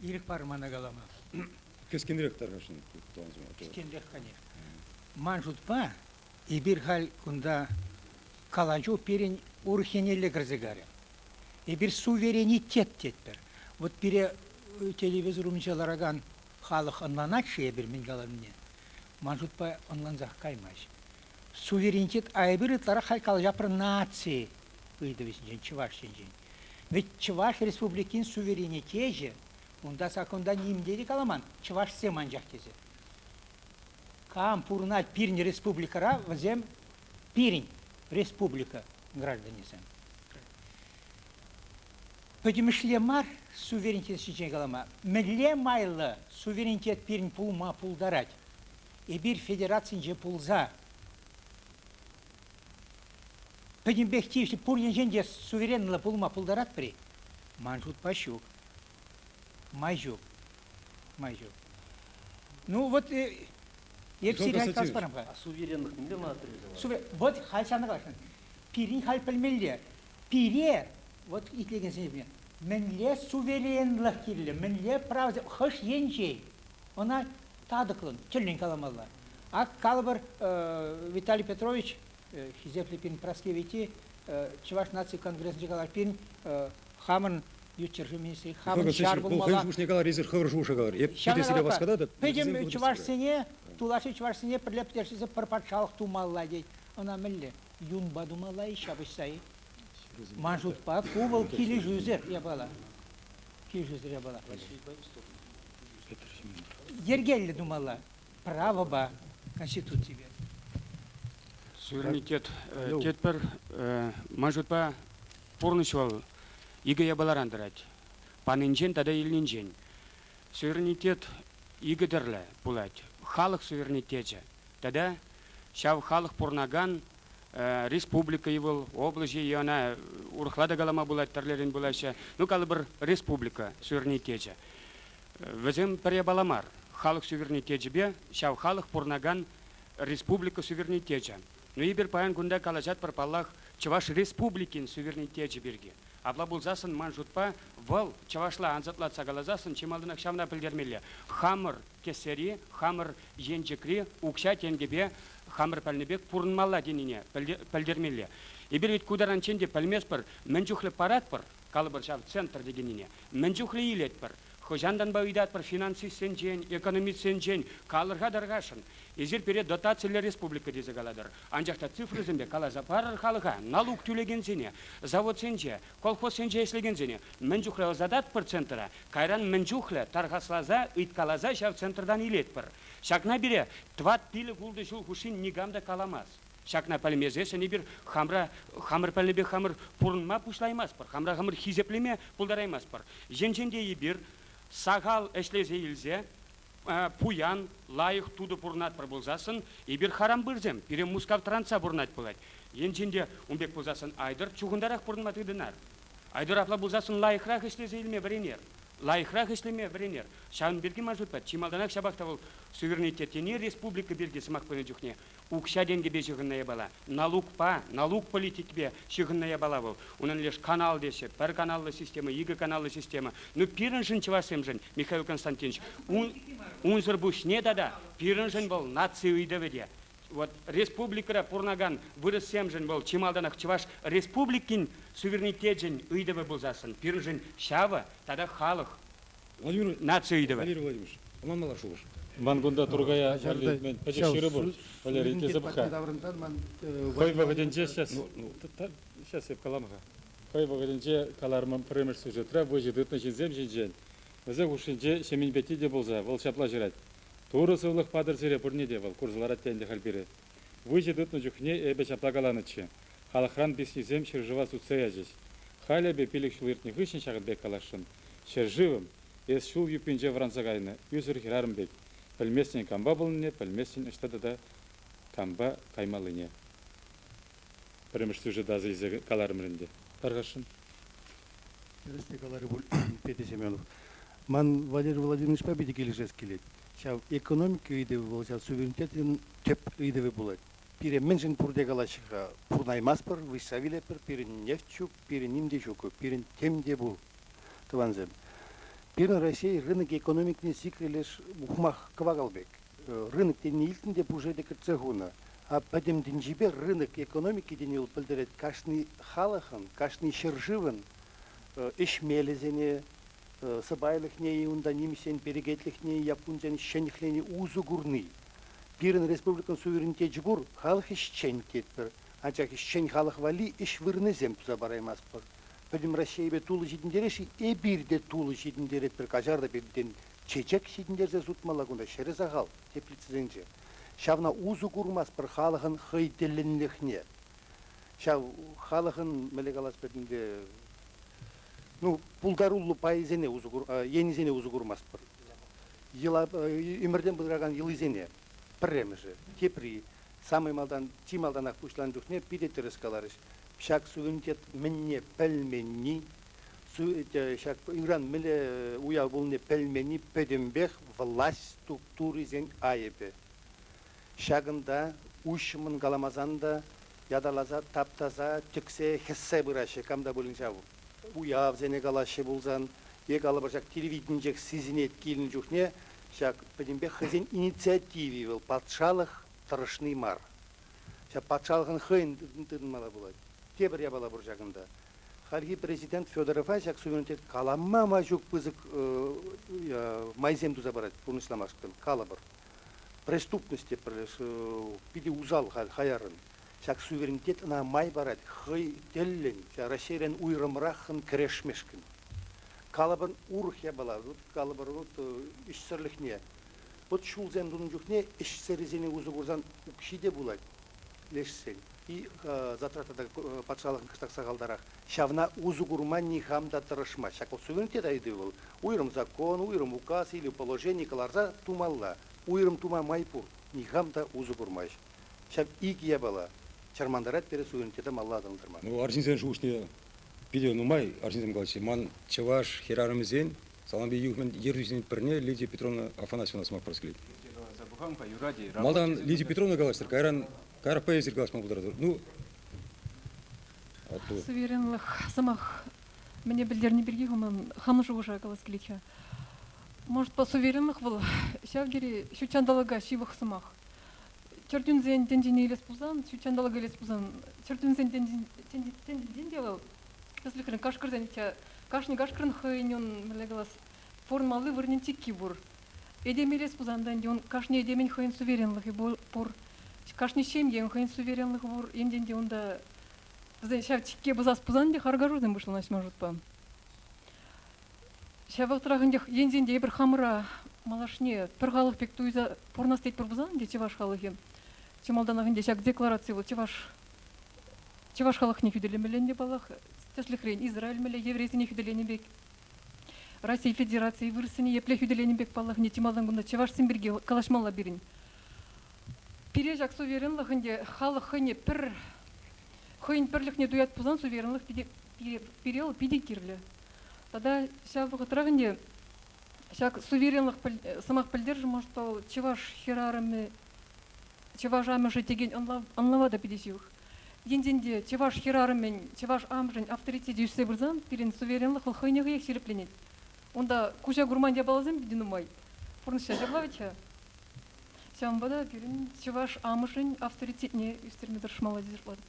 Ирӗк пар мана калама. Кӗскенрех тархасшӑн тӑван сӑмах. Кӗскенрех, конечно. Ман шутпа, эпир халь кунта калаҫу пирӗн урӑххинелле кӗрсе карӗ. Эпир суверенитет тетпӗр. Вот пире э, телевизор умӗнче ларакан халӑх ӑнланать-ши эпир мӗн каланине? Ман шутпа ӑнлансах каймасть. Суверенитет айӑпӗ ытларах халь калаҫа про наци ыйтӑвӗ ҫинчен, чӑваш енчен. Вӗт Чӑваш Республикин суверенитечӗ, унта саккунта ним те те каламан, чӑвашсем анчах тесе. Кам пурӑнать пирӗн республикӑра, вӗсем пирӗн республика гражданӗсем. Пӗтӗмӗшле мар суверенитет ҫинчен калама. Мӗнле майлӑ суверенитет пирӗн пулма пултарать? Эпир федерацинче пулса Пӗтӗмпех тивӗҫлӗ пур енчен те суверенлӑ пулма пултаратпӑр-и? Ман шутпа ҫук. Май ҫук. Май ҫук. Ну вот э, эп сире калас барамга. А суверенлӑх мӗнпе манаттармасан? Сувер... Вот халь сана калаҫман. Пирӗн халь пӗлмелле. Пире, вот итлекенсене, мӗнле суверенлӑх кирлӗ, мӗнле право хӑш енчен? Ӑна татӑклӑн, тӗллӗн каламалла. Ак калӑпӑр, Виталий Петрович Хисеплӗ пин прослевити Чӑваш наци конгресӗнче калар пин хамӑн ют ҫӗршыв министрӗ хамӑн ҫар пулмалла. Хӑйӗн шухӑшне калар, эсир хӑвӑр шухӑша калар. Эп питӗ сире васкататӑп. Пӗтӗм чӑвашсене, тулашри чӑвашсене пӗрле пӗтерсе пӗр патшалӑх тумалла тет. Ӑна мӗнле? Юнпа тумалла-и, ҫапӑҫса-и? Ман шутпа, ку вӑл килӗшӳсӗр япала. Килӗшӳсӗр япала. Йӗркеллӗ тумалла правӑпа Конституципе. Суверенитет э, тетпӗр, э, ман шутпа, пурнӑҫ вӑл икӗ япаларан тӑрать. Панинчен тата илнинчен. Суверенитет икӗ тӗрлӗ пулать. Халӑх суверенитечӗ, Тата ҫав халӑх пурӑнакан республика-и вӑл, облаҫ-и, ӑна урӑхла та калама пулать, тӗрлӗрен пулаҫҫӗ. Ну, калӑпӑр, республика суверенитечӗ. Вӗсем пӗр япала мар, халӑх суверенитечӗпе ҫав халӑх пурӑнакан республика суверенитечӗ. Ну, эпир паян кунта калаҫатпӑр, паллах, Чӑваш Республикин суверенитечӗ пирки. Апла пулсассӑн, ман шутпа, вӑл, чӑвашла ансатлатса каласассӑн, чи малтанах ҫавна пӗлтермелле, хамӑр Кӗсъери хамӑр енчӗкри укҫа-тенкӗпе хамӑр пӗлнӗ пек пурӑнмалла тенине пӗлтермелле. Эпир вӗт ку таранччен те пӗлместпӗр, мӗн чухлӗ паратпӑр, калӑпӑр ҫав центр текеннине, мӗн чухлӗ илетпӗр, хӑҫантанпа ыйтатпӑр финансистсенчен, экономистсенчен калӑрха-тархасшӑн. Эсир пире дотациллӗ республика тесе калатӑр, анчах та цифрӑсемпе каласа парӑр халӑха, налук тӳлекенсене, заводсенче, Колхозсенче ӗҫлекенсене мӗн чухлӗ ӑсататпӑр центра, кайран мӗн чухлӗ тархасласа, ыйткаласа ҫав центртан илетпӗр. Ҫакна пире тӑват-пилӗк-ултӑ ҫул хушши никам та каламасть. Ҫакна пӗлмесессӗн эпир хамра хамӑр пӗлнӗпе хамӑр пурӑнма пуҫлаймастпӑр, хамра хамӑр хисеплеме пултараймастпӑр. Енчен те эпир сахал ӗҫлесе илсе пуян, лайӑх тутӑ пурӑнатпӑр пулсассӑн, эпир харампырсем, пире Мускав тӑрантса пурӑнать пулать. Енчен те ун пек пулсассӑн Айтӑр чухӑнтарах пурӑнма тытӑнар. Айтӑр апла пулсассӑн лайӑхрах ӗҫлесе илме вӗренер. Лайӑхрах ӗҫлеме вӗренер. Ҫавӑн пирки ман шутпа чи малтанах ҫапах та вӑл суверенитет тени республика пирки сӑмах пынӑ чухне укҫа-тенкӗпе ҫыхӑннӑ япала, налукпа, налук политикипе ҫыхӑннӑ япала вӑл. Унӑн леш канал теҫҫӗ, пӗр каналлӑ система, икӗ каналлӑ система. Ну пирӗншӗн, чӑвашсемшӗн, Михаил Константинович, ун, унсӑр пуҫне тата пирӗншӗн вӑл наци ыйтӑвӗ те. Вот республикӑра пурӑнакан вырӑссемшӗн вӑл чи малтанах Чӑваш Республикин суверенитечӗн ыйтӑвӗ пулсассӑн пирӗншӗн ҫавӑ тата халӑх Владимир наци ыйтӑвӗ. Владимир Владимирович, ӑна мала шухӑш. Ман кунта Туркая вӗллетмен пӗчӗк ҫырупӑр, Валерий, тесе пӑх-ха. Хӑй вӑхӑтӗнче сейчас, сейчас эп калам-ха. Хӑй вӑхӑтӗнче каларӑмӑм пӗрремӗш сюжетра выҫӑ тытнӑ ҫынсем ҫинчен. Вӗсен хушшинче Ҫемен пекки те пулса, вӑл ҫапла ҫырать, Турӑ сывлӑх патӑр сире пурне те, вӑл курса ларать те ӗнтӗ халь пире, Выҫӑ тытнӑ чухне эпӗ ҫапла каланӑччӗ, халӑхран песнисем ҫӗршыва сутса ячӗҫ. Халӗ эпӗ пилӗк ҫул иртнӗ хыҫҫӑн ҫакӑн пек каласшӑн, ҫӗршывӑм, эс ҫул юппинче вӑранса кайнӑ ӳсӗр хӗрарӑм пек, пӗлместӗн кампа пулнине, пӗлместӗн ӑҫта тата кампа каймаллине. Пӗрремӗш сюжет асӑ илсе каларӑмӑр ӗнтӗ. Тархасшӑн. Тӗрӗсне каларӗ пуль Петя Семенов. Ман Валерий Владимировичпа питӗ килӗшес килет. Ҫав экономика ыйтӑвӗ вӑл ҫав суверенитетӑн тӗп ыйтӑвӗ пулать. Пире мӗншӗн пурте калаҫҫӗ-ха, пурӑнаймастпӑр, выҫса вилетпӗр, пирӗн нефть ҫук, пирӗн ним те ҫук, пирӗн тем те пур, тӑвансем. Пирӗн Раҫҫей рынок экономикине сикрӗ леш ухмах кӑвакал пек. Рынок тени илтнӗ те пушше те кӗтсе хунӑ. А пӗтӗм тӗнчипе рынок экономики тени вӑл пӗлтерет кашни халӑхӑн, кашни ҫӗршывӑн ӗҫ мелӗсене, сӑпайлӑхне-и, унта нимӗҫсен перекетлӗхне-и, яппунсен ҫӗнӗхлени усӑ курни. Пирӗн республикӑн суверенитечӗ пур, халӑх ӗҫчен тетпӗр, анчах ӗҫчен халӑх валли ӗҫ вырӑнӗсем туса параймастпӑр. Пӗтӗм Раҫҫейӗпе тулӑ ҫитӗнтерес-и? Эпир те тулӑ ҫитӗнтеретпӗр, каҫар та пиртен чечек ҫитӗнтерсе сутмалла кунта ҫӗрӗ сахал, теплицӑсенче. Ҫавна усӑ курмастпӑр халӑхӑн хӑй тӗллӗнлӗхне. Ҫав халӑхӑн, мӗнле калас пӗтӗмте, ну, пултаруллӑ пайсене усӑ кур, енӗсене усӑ курмастпӑр. Йӑла, ӳмӗртен пытаракан йӑлисене, пӗрремӗшӗ, тепри, самай малтан, чи малтанах пуҫланӑ чухне питӗ тӗрӗс каларӗҫ, ҫак суверенитет мӗнне пӗлменни, ҫак ыран мӗнле уяв пулнине пӗлменни пӗтӗмпех власть структурисен айӑпӗ. Ҫакӑнта уҫҫӑмӑн каламасан та ятарласа таптаса, тӗксе, хӗссе пыраҫҫӗ кам та пулин ҫав. Уявсене калаҫҫӗ пулсан е калӑпӑшак телевиденчех сисӗнет килнӗ чухне ҫак пӗтӗмпех хӑйсен инициативи вӑл патшалӑх тӑрӑшни мар. Ҫак патшалӑхӑн хӑйӗн тытӑнмалла пулать. Тепӗр япала пур ҫакӑнта. Хальхи президент Федорова ҫак суверенитет калама май ҫук пысӑк майсем туса парать пурнӑҫламашкӑн, калӑпӑр. преступность те пӗр питӗ усал хаяррӑн. Ҫак суверенитет ӑна май парать хӑй тӗллӗн Раҫҫейрен уйрӑмраххӑн кӗрешмешкӗн. Калӑпӑр, урӑх япала, калӑпӑр, ӗҫсӗрлӗхне, вӑт ҫулсем тунӑ чухне ӗҫсӗррисене усӑ курсан укҫи те пулать лешсен. И затрата та патшалӑхӑн кӑштах сахалтарах. Ҫавна усӑ курма нихам та тӑрӑшмасть. Ҫак суверенитет ыйтӑвӗ вӑл уйрӑм закон, уйрӑм указ или положени кӑларса тумалла. Уйрӑм тума май пур, нихам та усӑ курмасть. Ҫав икӗ япала чӑрмантарать пире суверенитета малалла аталантарма. Ну, арҫынсен шухӑшне питӗ нумай арҫынсем калаҫҫӗ. Ман чӑваш хӗрарӑмӗсен салампи юхӑмӗн ертӳҫисен пӗрне Лидия Петровна Афанасьевна сӑмах парас килет. Лидия каласа пӑхам-ха, юрать-и? Малтан Лидия Петровна калаҫтӑр, кайран Карапа эсир калаҫма пултаратӑр. Ну, Суверенлӑх сӑмах мӗне пӗлтерни пирки хуман хамӑн шухӑша калас килет-ха. Может, суверенлӑх вӑл ҫав тери ҫутҫанталӑка ҫывӑх сӑмах. Чӗрчунсен тӗнчине илес пулсан, ҫутҫанталӑка илес пулсан, чӗрчунсен тӗнчинчен те вӑл тӗслӗхрен кашкӑрсен, кашни кашкӑрӑн хӑйӗн ун мӗнле калас, формалли вырӑнӗн чикки пур. Этемелес пулсан юн кашни этемӗн хӑйӗн суверенлӑхӗ пур. Кашни ҫемьен хӑйӗн суверенлӑхӗ пур. Енчен те унта вӗсен ҫав чикке пӑсас пулсан те харкашусем пуҫланаҫҫӗ ман шутпа. Ҫав вӑхӑтрах ӗнтӗ енчен те эпир хамӑра малашне пӗр халӑх пек туйса пурӑнас тетпӗр пулсан те чӑваш халӑхӗ чи малтанах ӗнтӗ ҫак деклараци вӑл чӑваш чӑваш халӑхне хӳтӗлемелле ӗнтӗ паллах тӗслӗхрен Израиль мӗнле еврейсене хӳтӗленӗ пек Раҫҫей Федерацийӗ вырӑссене епле хӳтӗленӗ пек паллахине чи малтан кунта чӑвашсем пирки калаҫмалла пирӗн. Пире ҫак суверенлӑх ӗнтӗ халӑх хӑйне пӗр хӑйӗн пӗрлӗхне туять пулсан суверенлӑх питӗ пире, пире вӑл питӗ кирлӗ. Тата ҫав вӑхӑтрах ӗнтӗ ҫак суверенлӑх сӑмах пӗлтершӗ что чӑваш хӗрарӑмӗ чӑваш амӑшӗ текен ӑнлав ӑнлава та питӗ ҫывӑх. Енчен те чӑваш хӗрарӑмӗн, чӑваш амӑшӗн авторитечӗ ӳссе пырсан, пирӗн суверенлӑх вӑл хӑйне хӑех ҫирӗпленет. Унта куҫа курман япаласем питӗ нумай. Пурнӑҫа ҫаклавӗт-ха. Ҫавӑнпа та пирӗн чӑваш амӑшӗн авторитетне ӳстерме тӑрӑшмалла тесе шутлатӑп.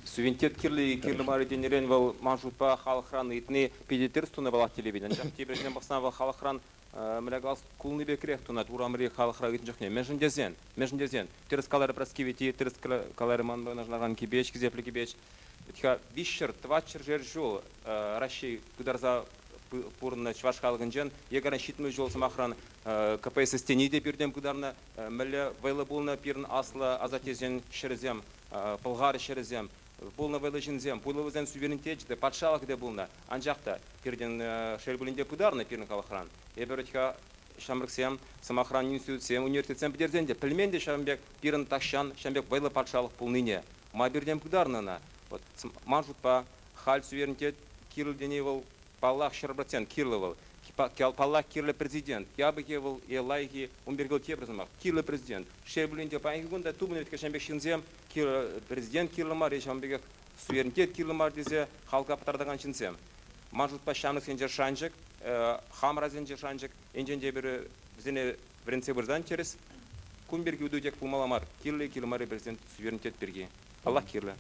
Сувенир кирли кирлӗ мар тенӗрен вӑл ман шутпа халӑхран ыйтни питӗ тӗрӗс тунӑ паллах телевидени. Анчах тепӗрисене пӑхсан вӑл халӑхран Млякас кулни пекрех тунать урамри халӑхра ӳснӗ чухне. Мӗншӗн тесен, мӗншӗн тесен тӗрӗс каларӗ Прасковити, тӗрӗс каларӗ ман вырнаҫтаракан кипеч, хисеплӗ кипеч. Виҫ ҫӗр, тӑват ҫӗршер ҫул Раҫҫей пытарса пурӑннӑ чӑваш халӑхӗнчен якорь ҫитмӗл ҫул сӑмахран КПСС тени те пиртен пытарнӑ. Мӗнле вӑйлӑ пулнӑ пирӗн аслӑ асаттесен ҫӗрӗсем, пӑлхар ҫӗрӗсем. Пулнӑ вӑйлӑ ҫынсем, пулӑ вӗсен суверенитечӗ те, патшалӑхӗ те пулнӑ. Анчах та пиртен, шел пулин те, пытарнӑ пирӗн халӑхран. Эпир вӗт-ха, ҫамрӑксем, сӑмахран, институтсем, университетсем пӗтерсен те пӗлмен те ҫавӑн пек пирӗн тахҫан ҫавӑн пек вӑйлӑ патшалӑх пулнине. Ма пиртен пытарнӑ ӑна? Вӑт, ман шутпа, халь суверенитет кирлӗ тени вӑл, паллах, ҫӗр процент кирлӗ вӑл. Паллах, кирлӗ президент. Япӑхи вӑл е лайӑхи, ун пирки вӑл тепӗр сӑмах, кирлӗ президент. Шел пулин те, паянхи кун та тупӑнӗ вӗт-ха ҫавӑн пек ҫынсем. Президент кирлӗ мар-и ҫавӑн пекех суверенитет кирлӗ мар тесе халка пытартакан ҫынсем? Ман шутпа ҫамрӑксенче шанчӑк, хамӑрасенче шанчӑк. Енчен те эпир вӗсене вӗрентсе пырсан тӗрӗс, кун пирки утӑ тек пулмалла мар. Кирлӗ, кирлӗ мар-и президент суверенитет пирки? Паллах, кирлӗ.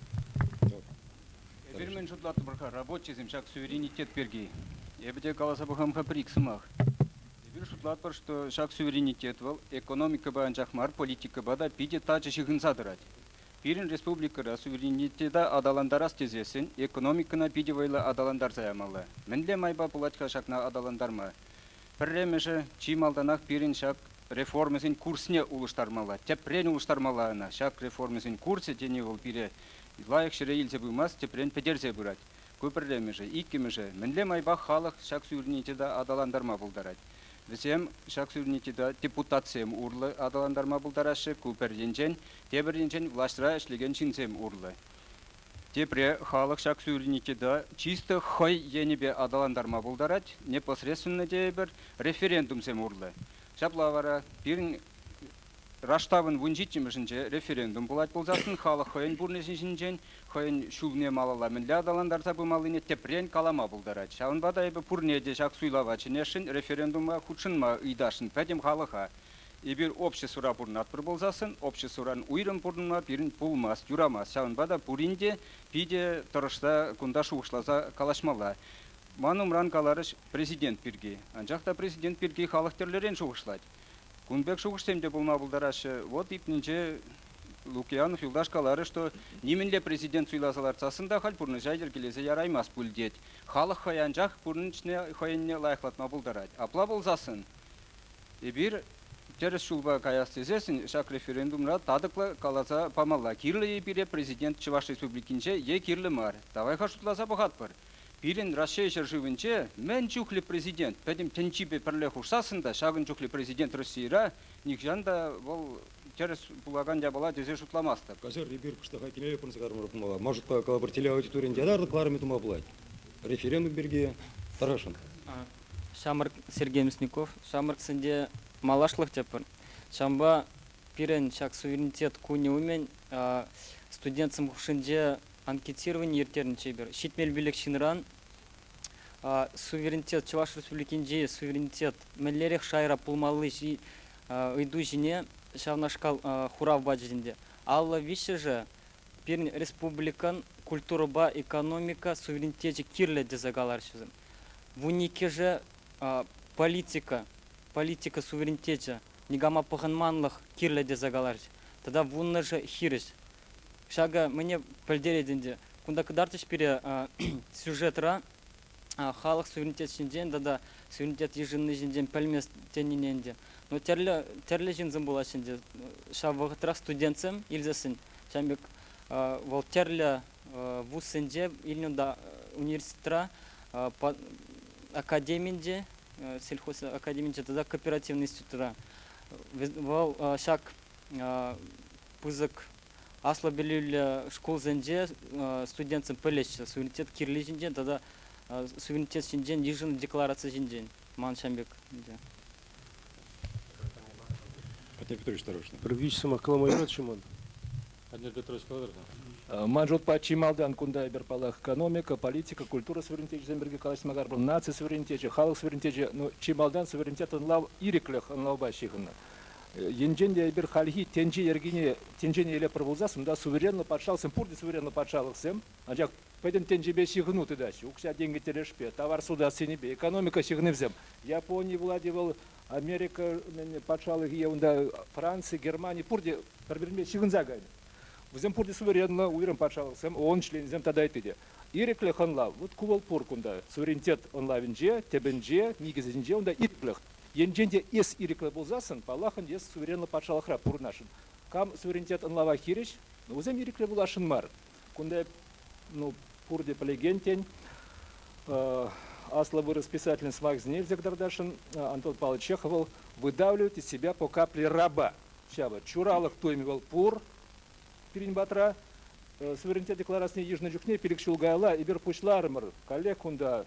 Эпир мӗн шутлатпӑр-ха, рабочисем ҫак суверенитет пирки? Эпӗ те каласа пӑхам-ха пӗр-ик сӑмах. Эпир шутлатпӑр, что ҫак суверенитет вӑл экономикӑпа анчах мар, политикӑпа та питӗ тачӑ ҫыхӑнса тӑрать. Пирӗн республикӑра суверенитета аталантарас тесессӗн экономикӑна питӗ вӑйлӑ аталантарса ямалла. Мӗнле майпа пулать-ха ҫакна аталантарма? Пӗрремӗшӗ, чи малтанах пирӗн ҫак реформӑсен курсне улӑштармалла. Тӗпрен улӑштармалла ӑна. Ҫак реформӑсен курсӗ тени вӑл пире лайӑх ҫӗре илсе пымасть, тӗпрен пӗтерсе пырать. Ку пӗрремӗшӗ. Иккӗмӗшӗ, мӗнле майпах халӑх ҫак суверенитета аталантарма пултарать? Вӗсем ҫак суверенитета депутатсем урлӑ аталантарма пултараҫҫӗ, ку пӗр енчен, тепӗр енчен влаҫра ӗҫлекен ҫынсем урлӑ. Тепре халӑх ҫак суверенитета чисто хӑй енӗпе аталантарма пултарать, непосредственно тейӗпӗр, референдумсем урлӑ. Ҫапла вара пирӗн Раштавӑн вун ҫиччӗмӗшӗнче референдум пулать пулсассӑн халӑх хӑйӗн пурнӑҫӗ ҫинчен, хӑйӗн ҫулне малалла мӗнле аталантарса пымаллине тӗпрен калама пултарать. Ҫавӑнпа та эпӗ пурне те ҫак суйлава чӗнесшӗн, референдума хутшӑнма ыйтасшӑн пӗтӗм халӑха. Эпир обществӑра пурӑнатпӑр пулсассӑн, обществӑран уйрӑм пурӑнма пирӗн пулмасть, юрамасть. Ҫавӑнпа та пурин те питӗ тӑрӑшса кунта шухӑшласа калаҫмалла. Ман умран каларӗҫ Президент пирки. Анчах та Президент пирки халӑх тӗрлӗрен шухӑшлать. Кун пек шухӑшсем те пулма пултараҫҫӗ. Вот ипнинче Лукиянов юлташ каларӗ, что нимӗнле президент суйласа лартсассӑн та халь пурнӑҫа йӗркелесе яраймасть пуль тет. Халӑх хӑй анчах пурнӑҫне хӑйӗнне лайӑхлатма пултарать. Апла пулсассӑн эпир тӗрӗс ҫулпа каяс тесессӗн ҫак референдумра татӑклӑ каласа памалла. Кирлӗ-и пире президент Чӑваш Республикинче е кирлӗ мар? Давай-ха шутласа пӑхатпӑр. Пирӗн Раҫҫей ҫӗршывӗнче мӗн чухлӗ президент пӗтӗм тӗнчипе пӗрле хушсассӑн та ҫакӑн чухлӗ президент Российӑра нихҫан та вӑл тӗрӗс пулакан япала тесе шутламастӑп. Каҫар, эпир кӑштаха кинӗре пӑрӑнса кӑларма пулмалла. Может, калӑпӑр, телеаудиторин ятарлӑ кӑларӑмӗ тума пулать. Референдум пирки тӑрӑшӑн. Ҫамрӑк Сергей Мясников, ҫамрӑксенче малашлӑх тӗппӗр. Ҫавӑнпа пирӗн ҫак суверенитет кунӗ умӗн студентсем хушшинче анкетировани ирттернӗ чипер ҫитмел пилӗк ҫынран суверенитет Чӑваш Республикинчи суверенитет мӗнлерех шайра пулмалли ыйту ҫине ҫавнашкал хурав пачӗҫ ӗнтӗ. Алла виҫҫӗшӗ пирӗн республикӑн культурӑпа экономика суверенитечӗ кирлӗ тесе каларҫӑсем. Вун иккӗшӗ политика, политика суверенитечӗ никама пӑхӑнманлӑх кирлӗ тесе каларӗҫ тата вуннӑшӗ хирӗҫ. Ҫакӑ мӗне пӗлтерет ӗнтӗ, кунта кӑтартӗҫ пире сюжетра халӑх суверенитет ҫинчен тата суверенитет йышӑнни ҫинчен пӗлмест тенине ӗнтӗ. Но тӗрлӗ тӗрлӗ ҫынсем пулаҫҫӗ ӗнтӗ. Ҫав вӑхӑтрах студентсем илсессӗн ҫавӑн пек вӑл тӗрлӗ вузсенче илнӗ унта университетра академинче сельхоз академинче тата кооперативный институтра. Вӑл ҫак пысӑк аслӑ пӗлӳллӗ шкулсенче студентсем пӗлеҫҫӗ суверенитет кирли ҫинчен тата суверенитет ҫинчен йышӑннӑ деклараци ҫинчен ман ҫam пек ӗнтӗ. Петр Петрович, осторожно. Предвидеть сӑмах каламай юрать-ши ман? Ман шутпа, чи малтан кунта эпир, паллах, экономика, политика, культура суверенитечӗсем пирки калаҫма кар. Вӑл наци суверенитечӗ, халӑх суверенитечӗ, ну, чи малтан суверенитет ӑнлав, ирӗклӗх ӑнлавпа ҫыхӑннӑ. Енчен те эпир хальхи тӗнче йӗркине, тӗнчене илеппӗр пулсассӑн, унта суверенлӑ патшалӑхсем, пурте суверенлӑ патшалӑхсем, анчах пӗтӗм тӗнчепе ҫыхӑну тытаҫҫӗ, укҫа-тенкӗ тӗлӗшпе, тавар сутас енӗпе, экономика ҫыхӑнӑвӗсем. Япони, Влади, вӑл Америкӑн патшалӑхӗ е унта Франци, Германи пурте пӗр-пӗринпе ҫыхӑнса кайнӑ. Вӗсем пурте суверенлӑ уйрӑм патшалӑхсем, ООН членӗсем тата ытти те. Ирӗклӗх ӑнлав, вӑт ку вӑл пур кунта, суверенитет ӑнлавӗнче, тӗпӗнче, никӗсӗнче, унта ирӗклӗх. Енчен те эс ирӗклӗ пулсассӑн, паллахӑн эс суверенлӑ патшалӑхра пурӑнасшӑн. Кам суверенитет ӑнлава хирӗҫ, вӗсем ирӗклӗ пуласшӑн мар. Кунта ну, пурте пӗлекен тен. Аслӑ вырӑс писателӗн сӑмахӗсене илсе кӑтартасшӑн Антон Павлович Чехов вӑл «Выдавливать из себя по капле раба». Ҫавӑ чуралӑх туйӑмӗ вӑл пур пирӗн патра. Суверенитет декларацине йышнӑ чухне пилӗк ҫул каялла эпир пуҫларӑмӑр. Каллех кунта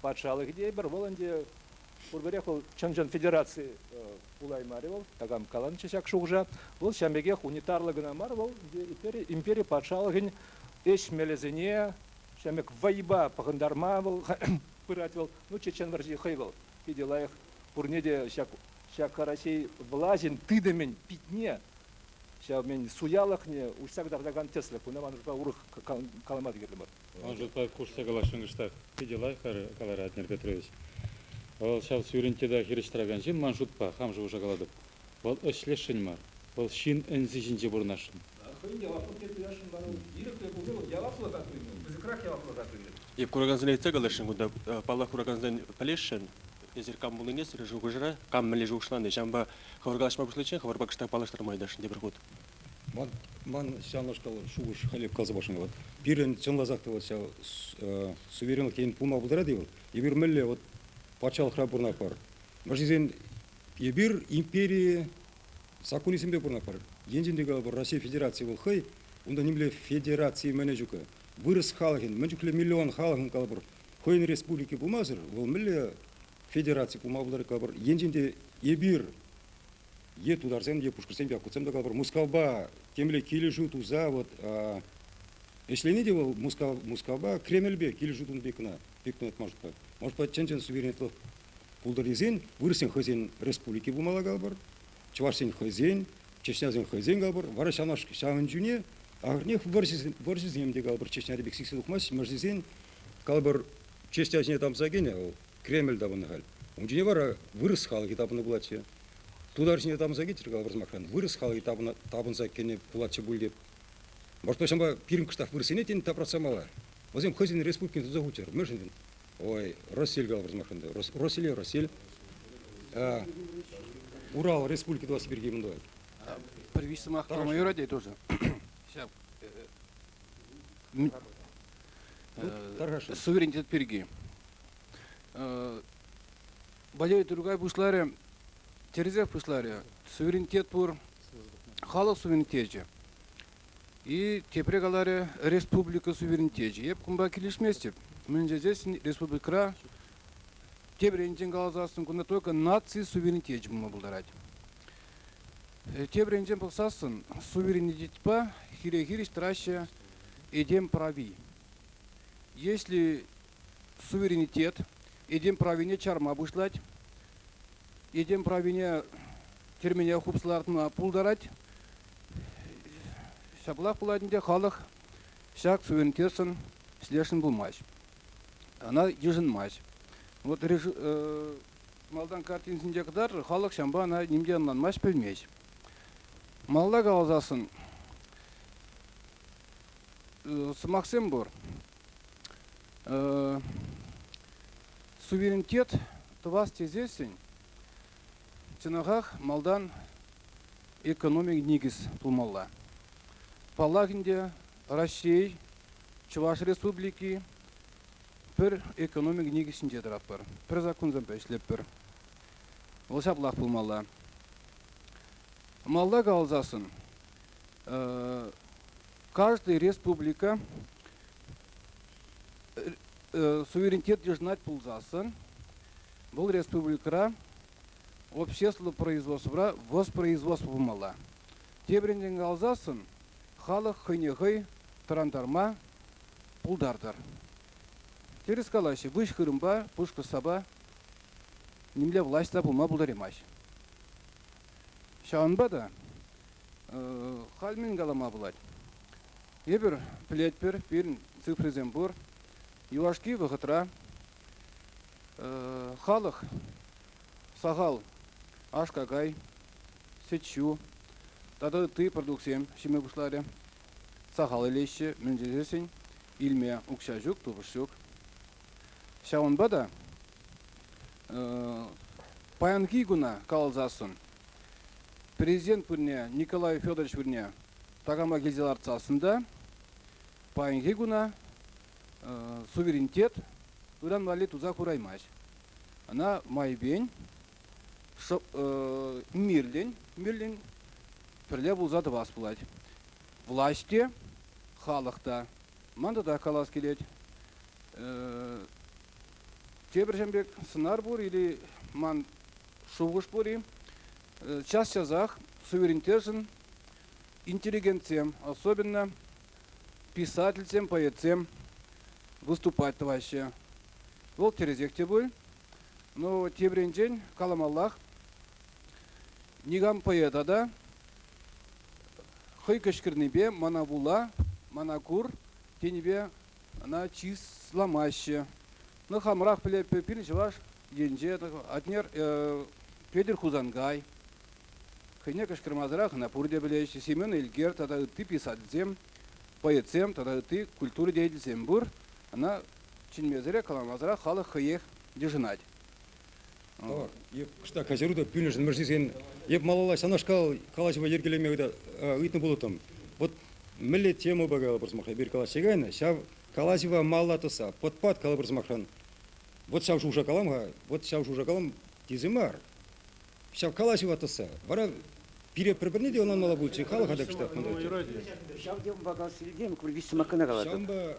патшалӑхӗ те эпир вӑл ӗнтӗ пурпӗрех вӑл чӑн-чӑн федераци пулаймарӗ вӑл такам каланчӗ ҫак шухӑша вӑл ҫавӑн пекех унитарлӑ кӑна мар вӑл импери импери патшалӑхӗн ӗҫ мелӗсене ҫавӑн пек вӑйпа пӑхӑнтарма вӑл пырать вӑл ну чечен вӑрҫи хӑй вӑл питӗ лайӑх пурне те ҫак ҫак Раҫҫей влаҫӗн тытӑмӗн питне ҫав мӗн суялӑхне уҫса кӑтартакан тӗслӗх кунта манӑшпа урӑх калама та кирлӗ мар Ӑна шутпа хушса каласшӑн кӑштах питӗ лайӑх каларӗ Атнер Петрович. Вӑл ҫав сӳрӗнтте та хирӗҫ тӑракан ҫын ман шутпа, хам шухӑша калатӑп, вӑл ӗҫлесшӗн мар, вӑл ҫын ӗнси ҫинче пурӑнасшӑн. Хӑйӗн яваплӑх те туясшӑн вара ун. Ирӗклӗ пулни вӑл яваплӑха туйнӑ, пысӑкрах яваплӑха туйӗ. Е куракансене ыйтса каласшӑн кунта. Паллах, куракансен пӗлесшӗн. Эсир кам пулнине сирӗн шухӑшӑра, кам мӗнле шухӑшлани. Ҫавӑнпа хӑвӑр калаҫма пуҫличчен хӑвӑрпа кӑштах паллаштарма ыйтасшӑн тепӗр хут. Ман ҫавнашкал шухӑш-халӗ каласа пачӑшӑн вӑл. Пирӗн чӑнласах та вӑл ҫав суверенлӑх енӗн пулма пултарать-и вӑл? Эпир мӗнле вот патшалӑхра пурӑнатпӑр? Мӑшисен эпир импери саккунӗсемпе пурӑнатпӑр. Енчен те калӑпӑр Россия Федерацийӗ вӑл хӑй, унта нимле федераци мӗн ҫук. Вырӑс халӑхӗн, мӗн чухлӗ миллион халӑхӑн калӑпӑр хӑйӗн республики пулмасӑр, вӑл мӗнле федераци пулма пултарать калӑпӑр. Енчен те эпир е тутарсем, е пушкӑрсем, якутсем та калӑпӑр, Мускавпа темле килӗшӳ туса вот ӗҫлени те вӑл Мускав, Мускавпа Кремльпе килӗшӳ тунӑ пек кӑна пек кӑна может быть может быть чӑн-чӑн суверенлӑх пултӑрнисен вырӑссен хӑйсен республики пулмалла калӑпӑр чӑвашсен хӑйсен чечнясен хӑйсен калӑпӑр вара ҫавна ҫавӑн чухне ахӑрнех вӑрҫӑсем, вӑрҫӑсем те калӑпӑр чечняри пек сиксе тухмасть мӑрсисен калӑпӑр чечня ҫине тамса кӗнӗ вӑл Кремль тапӑннӑ халь. Ун ҫине вара вырӑс халӑхӗ тапӑннӑ пулатчӗ. Тутар ҫине тапӑнса килчӗр кала вырсмахран. Вырӑс халӑхӗ тапӑна, тапӑнса кӗнӗ пулатчӗ пуль теп. Может почему пирӗн кӑштах вырӑссене тен тапратса мала? Вӗсем хӑйсен республикине туса хуччӑр. Мӗншӗн? Ой, Россель кала вырсмахран та. Росселе Россель. Урал Республики туласси пирки мӗн тӑвать? Пӗр виҫ сӑмах тӑрма юрать-и тоже? Ҫав. Суверенитет пирки. Бадей Тургай пуҫларӗ, Терезев пуҫларӗ. Суверенитет пур, халӑх суверенитечӗ. И тепре каларӗ, республика суверенитечӗ. Эп кунпа килӗшместӗп. Мӗн тесен республикӑра тепӗр енчен каласассӑн кунта только наци суверенитечӗ пулма пултарать. Тепӗр енчен пӑхсассӑн суверенитетпа хире-хирӗҫ тӑраҫҫӗ этем прави. Если суверенитет этем правине чарма пуҫлать, этем правине тӗрмене хупса лартма пултарать, ҫаплах пулать ӗнтӗ халӑх ҫак суверенитетшӑн слешӗн пулмасть. Она йышӑнмасть. Вот малтан картинсенче кӑтартӑр, халӑх ҫавӑнпа ӑна нимте ӑнланмасть, пӗлмест. Малта каласассӑн сӑмахсем пур. Суверенитет тӑвас тесессӗн чӑнахах малтан экономик никӗс тумалла. Паллах ӗнтӗ, Раҫҫей, Чӑваш Республики пӗр экономик никӗсӗнче тӑратпӑр, пӗр саккунсемпе ӗҫлетпӗр. Вӑл ҫаплах пулмалла. Малта каласассӑн, каждый республика суверенитет йышӑнать пулсассӑн, вӑл республикӑра общество производствӑра воспроизводство пулмалла. Тепринчен каласассӑн, халӑх хӑйне хӑй тӑрантарма пултартӑр. Тӗрӗс калаҫҫӗ, выҫ хырӑмпа пушкӑрт сапа нимле власть та пулма пултараймасть. Ҫавӑнпа та халь мӗн калама пулать? Эпир пӗлетпӗр, пирӗн цифрисем пур. Юлашки вӑхӑтра халӑх сахал аш-какай, сӗт-ҫу тата ытти продуктсем ҫиме пуҫларӗ. Сахал илеҫҫӗ, мӗн тесен илме укҫа ҫук, тупӑш ҫук. Ҫавӑнпа та паянхи куна каласассӑн Президент пырне Николай Федорович пырне такама килсе лартсассӑн та паянхи куна суверенитет ыран валли туса хураймасть. Ӑна майпен мирлӗн, мирлӗн пӗрле пулса тӑвас пулать. Власть те, халӑх та Ман тата калас килет, тепӗр пек сӑнар пур-и ман шухӑш пур-и? Час-часах суверенитетшӑн интеллигентсем, особенно писательсем, поэтсем выступать тӑваҫҫӗ. Вӑл тӗрӗсех те пуль, но тепринчен каламаллах. Никам поэта та, хӑй кӑшкӑрнипе мана вула, мана кур тенипе ӑна чысламаҫҫӗ. Ну, хамӑрах пӗлетпӗр, пирӗн чӑваш енче Атнер Петӗр Хусанкай хӑйне кӑшкӑрмасӑрах ӑна пурте пӗлеҫҫӗ. Семен Элкер тата ытти писательсем, поэтсем тата ытти культура деятельсем пур. Ӑна чӗнмесӗрех, каламасӑрах халӑх хӑйех йышӑнать. Тавар е кӑштах каҫару та пӳлӗмшӗн мӗрсисен е малалла ҫавнашкал калаҫӑва йӗркелеме ыйтнӑ пулӑттӑм. Вот мӗнле темӑпа калӑпӑр сӑмахра эпир калаҫса кайнӑ, ҫав калаҫӑва малла тӑсса пӑт-пат калӑпӑр сӑмахран, вот ҫав шуша калам-ха, вот ҫав шуша калам тесе мар. Ҫав калаҫӑва тӑсса вара пире пӗр-пӗрне те ӑнланмалла пулчӗ, халӑха та кӑштах мӑнтарччӗ. Ҫав темӑпа калас илтем, кургиз сӑмакана калатӑп. Ҫавӑнпа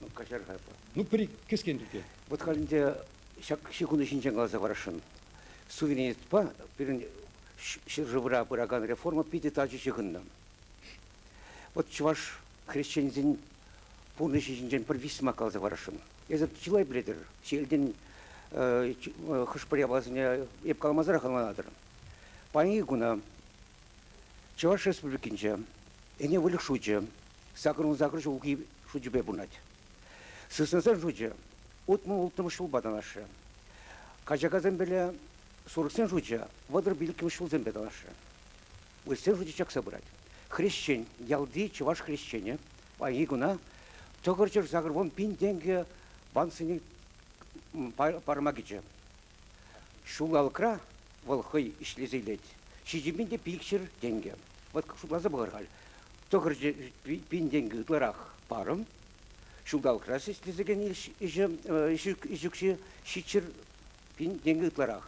Ну, каҫар-ха эпӗ. Ну, пӗри кӗскен тӳке. Вот халь ӗнтӗ ҫак ҫекунта ҫинчен каласа парасшӑн. Суверенитетпа пирӗн ҫӗршывра пыракан реформа питӗ тачӑ ҫыхӑннӑ. Вот чӑваш хресченӗсен пурнӑҫӗ ҫинчен пӗр висмак каласа парасшӑн. Эсӗ чылай пӗлетӗр. Ҫелтен э, хӑш-пӗр япаласене эп каламасӑрах ӑнланатӑр. Паянхи куна Чӑваш Республикинче ӗне выльӑх шучӗ Сакӑрун-сакӑр ҫулхи шучӗпе пурӑнать. Сыснасен шучӗ утмӑл-улттӑмӗш ҫулпа танлашрӗ. Качакасемпеле сурӑхсен шучӗ вӑтӑр-пилӗкмӗш ҫулсемпе танлашрӗ. Вырӑссен шучӗ чакса пырать. Хресчен, ялти чӑваш хресченӗ паянхи куна тӑкӑрчӑр-сакӑр вун пин тенкӗ банксене парӑма кӗчӗ. Ҫулалӑкра вӑл хӑй ӗҫлесе илет. Ҫичӗ пин те пикҫӗр тенкӗ. Вӑт шутласа пӑхӑр халь. Тӑхӑр пин тенкӗ ытларах парӑм. Ҫулталӑкра ӗҫлесе кӗнӗ ӗҫ укҫи ҫичҫӗр пин тенкӗ ытларах.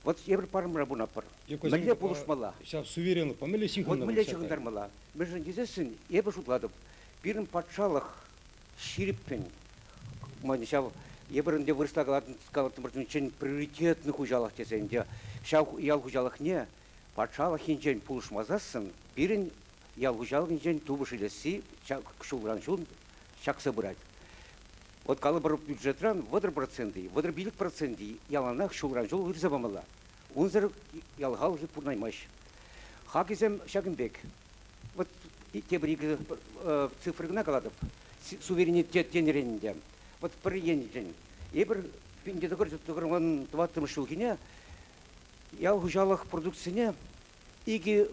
Вӑт евӗр парӑмра пулнапӑр. Мӗнле пулӑшмалла? Ҫав суверенлӑпа мӗнле ҫыхӑнтармалла? Мӗнле ҫыхӑнтармалла? Мӗншӗн тесессӗн эпӗ шутлатӑп, пирӗн патшалӑх Ҫирӗппӗн. Мӑн ҫав, эпир ӗнтӗ вырӑсла калаттӑмӑрччен приоритетный хуҫалӑх тесе ӗнтӗ. Ҫав ял хуҫалӑхне патшалӑх енчен пулӑшмасассӑн пирӗн ял хуҫалӑхӗнчен тупӑш илесси ҫулран-ҫул чакса пырать. Вот калӑпӑр бюджетран вӑтӑр проценти, вӑтӑр пилӗк проценти яланах ҫулран-ҫул ырса памалла. Унсӑр ял халӑхӗ пурӑнаймасть. Хакӗсем ҫакӑн пек. Вот тепӗр икӗ цифра кӑна калатӑп, суверенитет тенӗрен ӗнтӗ. Вот пӗр еншӗн эпир пинте тӑкӑр тӑкӑрман тӑваттӑмӗш ҫулхине ял хуҫалӑх продукцине икӗ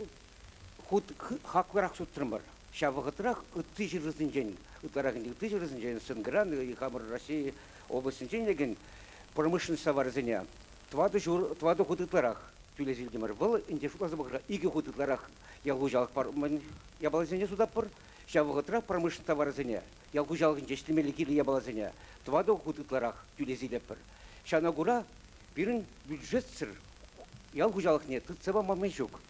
хут хаклӑрах сутрӑмӑр. Ҫав вӑхӑтрах ытти ҫӗршывсенчен, ытларах ӗнтӗ ытти ҫӗршывсенчен, СНГран, хамӑр России облаҫӗнчен илекен промышленность таварӗсене тӑватӑ ҫур, тӑватӑ хут ытларах тӳлесе илтӗмӗр. Вӑл ӗнтӗ шутласа пӑхӑр, икӗ хут ытларах ял хуҫалӑх япаласене сутатпӑр. Ҫав вӑхӑтрах промышленность таварӗсене ял хуҫалӑхӗнче ӗҫлемелли кирлӗ япаласене тӑватӑ хут ытларах тӳлес илетпӗр. Ҫавна кура пирӗн бюджетсӗр ял хуҫалӑхне тытса пама май ҫук.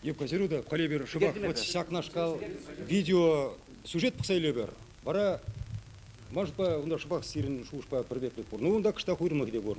Евгений Середа, коллегер, шӑпах вот ҫакнашкал видеосюжет пӑхса илӗпӗр. Вара маншӑнпа унта шӑпах сирӗн шухӑшпа пӗр пек пек пур. Ну, унта кӑштах уйрӑмлӑхӗ те пур.